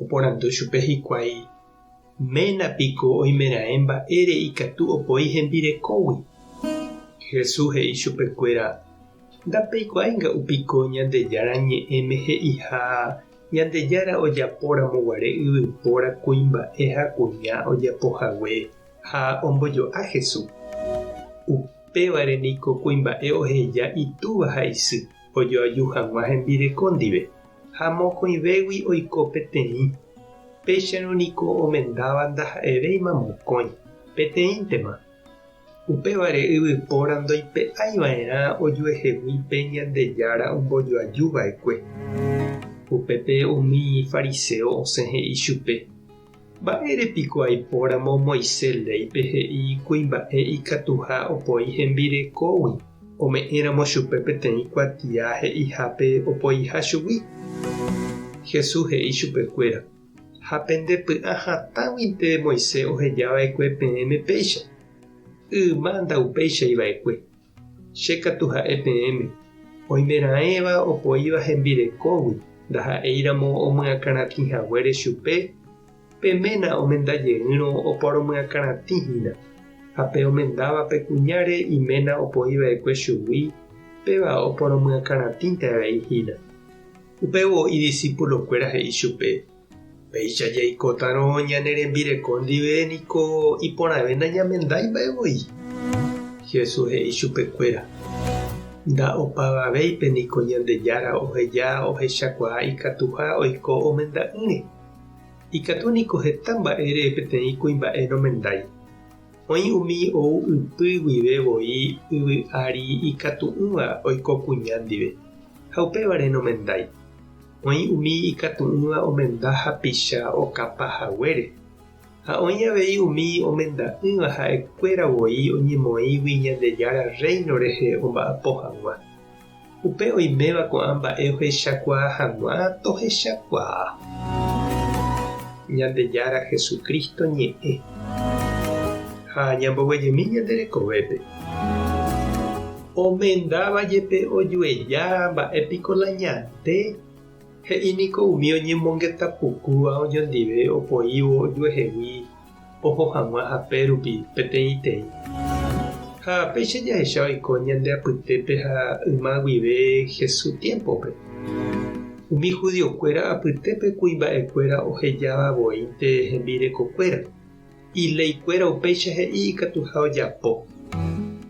Oporandu chupe hikuái, Ména piko oimeraẽ mba'ére ikatu opoi hembirekógui? Jesús he'i chupekuéra, Ndapeikuaáinga upiko Ñandejára Ñe'ẽme he'iha, Ñandejára ojapóramo guare yvypóra kuimba'e ha kuña ojapo hague, ha ombojo'a Jesús. Upévare niko kuimba'e oheja itúva ha isy. ojoaju hag̃ua hembireko ndive, ha mokõivégui oiko peteĩ, péicharõ niko omendáva ndaha'evéima mokõi, peteĩntema. Upévare yvypóra ndoipe'aiva'erã ojuehegui pe Ñandejára ombojoaju va'ekue. Upépe umi fariséo osẽ he'i chupe. Mba'ére piko aipóramo Moisés léipe he'i kuimba'e ikatuha opoi hembirekógui, ome'ẽramo chupe peteĩ kuatia he'ihápe opoiha chugui? Jesús he'i chupekuéra, Ha pendepy'ã hatãguinte Moisés oheja va'ekue peẽme péicha. Yma ndaupeichaiva'ekue. Che katu ha'e peẽme, oimeraẽva opoíva hembirekógui ndaha'éiramo omyakãratĩ haguére chupe, pe ména omenda jeýrõ oporomyakãratĩ hína, ha pe omendáva pe kuñáre iména opoi va'ekue chugui, péva oporomyakãratĩnte avei hína. Upévo idisípulokuéra he'i chupe, Péicha jaikótarõ ñane rembireko ndive niko iporãve nañamendái mba'e voi. Jesús he'i chupekuéra, Nda opavavéipe niko Ñandejára oheja ohechakuaa ikatuha oiko omenda'ỹre. Ikatu niko heta mba'ére peteĩ kuimba'e nomendái. Oĩ umi ou ypy guive voi yvy ári ikatu'ỹva oiko kuña ndive, ha upévare nomendái. Oĩ umi ikatu'ỹva omenda hapicha okapa haguére, ha oĩ avei umi omenda'ỹva ha'ekuéra voi oñemoĩgui Ñandejára Rréino rehe omba'apo hag̃ua. Upe oiméva ko'ã mba'e ohechakuaa hag̃ua tohechakuaa. Ñandejára Jesucristo ñe'ẽ. Ha ñamboguejemi ñande rekovépe. Omendáva jepe ojueja mba'e piko la ñate, he'i niko umi oñemongeta pukúva oñondive opoívo ojuehegui oho hag̃ua hape rupi peteĩteĩ. Ha péicha jahecha oiko ñande apytépe ha yma guive Jesús tiémpope, umi judiokuéra apytépe kuimba'ekuéra ohejáva voínte hembirekokuéra. Iléikuéra upéicha he'i ikatuha ojapo.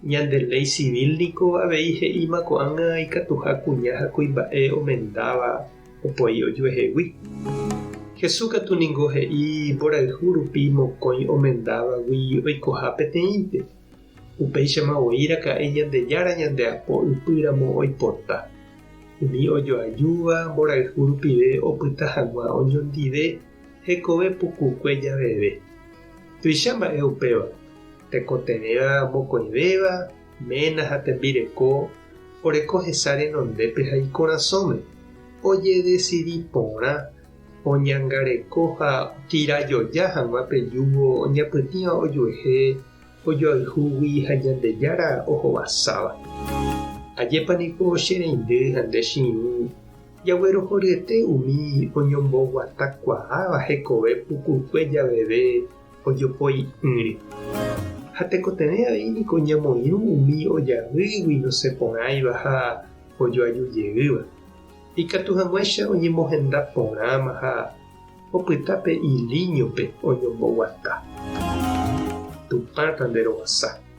Ñande léi civil niko avei he'íma ko'ág̃a ikatuha kuña ha kuimba'e omendáva opoi ojuehegui. Jesús katu ningo he'i mborayhu rupi mokõi omendávagui oikoha peteĩnte. Upéichama voi raka'e Ñandejára ñande apo ypy ramo oipota. Umi ojoajúva mborayhu rupive opyta hag̃ua oñondive. hekove pukukue javeve. Tuicha mba'e upéva, tekotevẽva mokõivéva, ména ha tembireko oreko hesa renondépe ha ikorasõme, ojedesidi porã oñangareko ha okirajoja hag̃ua pe júgo oñapytĩva ojuehe ojoayhúgui ha Ñandejára ohovasáva. Ajépa niko che reindy ha nde che irũ Jaguerohoryete umi oñomboguatakuaáva hekove pukukue javeve ojopoi'ỹre. Ha tekotevẽ avei niko ñamoirũ umi ojavýgui nosẽporãiva ha ojoajujeýva. Ikatu hag̃uáicha oñemohenda porãma ha opyta pe ilíñope oñomboguata. Tupã tanderovasa.